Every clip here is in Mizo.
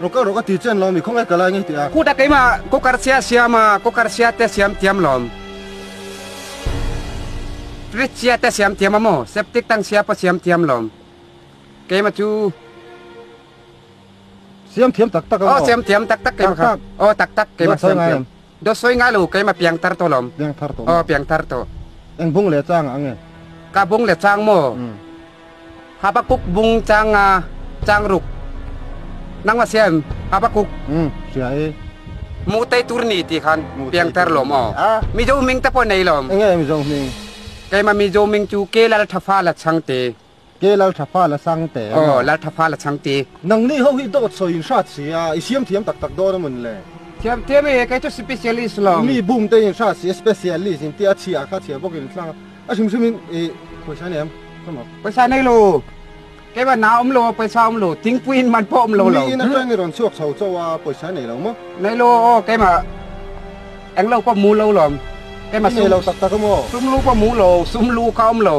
Rawk a rawk a ti chen lo mi khawnge ka lai ngei teh a. Kuta keimah kawkar sia siam a, kawkar sia te siam tiam lawm. Fridge sia te siam tiam a maw, septic tank sia pawh siam tiam lawm. Keima chu siam thiam tak tak a maw? Aw siam thiam tak tak keima kha. Aw tak tak keima siam thiam. Daw sawi ngai lo keima piang tar tawh lawm. Piang thar tawh maw? Aw piang thar tawh. Eng bung leh changah ange? Ka bung leh chang maw? Umm. Habakkuk bung changa changruk nangma sia em Habakkuk? Umm sia e. Hmuhtei tur ni tih khan piang tar lawm aw. Mizo hmingte pawh nei lawm. Enge Mizo hming? Keima Mizo hming chu Kelal Thafala Chhangte. Ke Lalthapha Lachang te emaw? Aw, Lalthapha Lachang te. Nang ni ho hi dawt sawiin hrat si a, i siam thiam tak tak dawn a mun le? Thiam thiam e, kei chu Specialist lo. Mi bum tein hrat si a, Specialist in tia a chhia a, kha chhia bawkin an thlanga, a hrim hrim in e, pawisa nei am, ka maw? Pawisa nei lo, keimah na awm lo, pawisa awm lo, thingpui in man pawh awm lo lo. Miin atang in rawn chhuak chho chauh a, pawisa nei lo maw? Nei lo aw, keimah englo pawh mu lo lawm, keimah sum, nei lo tak tak emaw? Sum lu pawh mu lo, sum lu kha awm lo.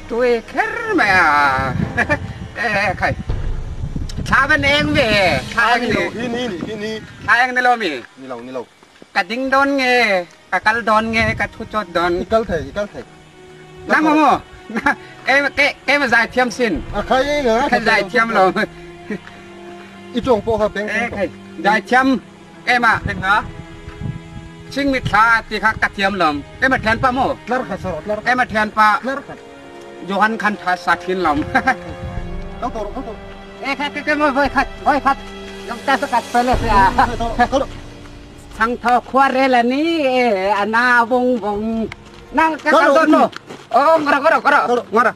Tui kher mai a eeh khai thla van eng ve e thla eng ni hi ni ni hi ni thla eng ni lo mi ni lo ni lo ka ding dawn nge ka kal dawn nge ka thu chawt dawn i kal thei i kal thei na maw maw ke ke ke ma zai thiam sin a khai eng a khai zai thiam lo i tawng pawh kha peng pawh zai thiam Ema thleng nga, ching mit thla ti kha ka thiam lam. Ema thian pa maw? Ema thian pa, Johan khan tha sa thin lam. Chhang tho khua rel a ni e, a na vawng vawng. Nang ka kal dawn maw? Aw, ngawh rawh, ngawh rawh, ngawh rawh.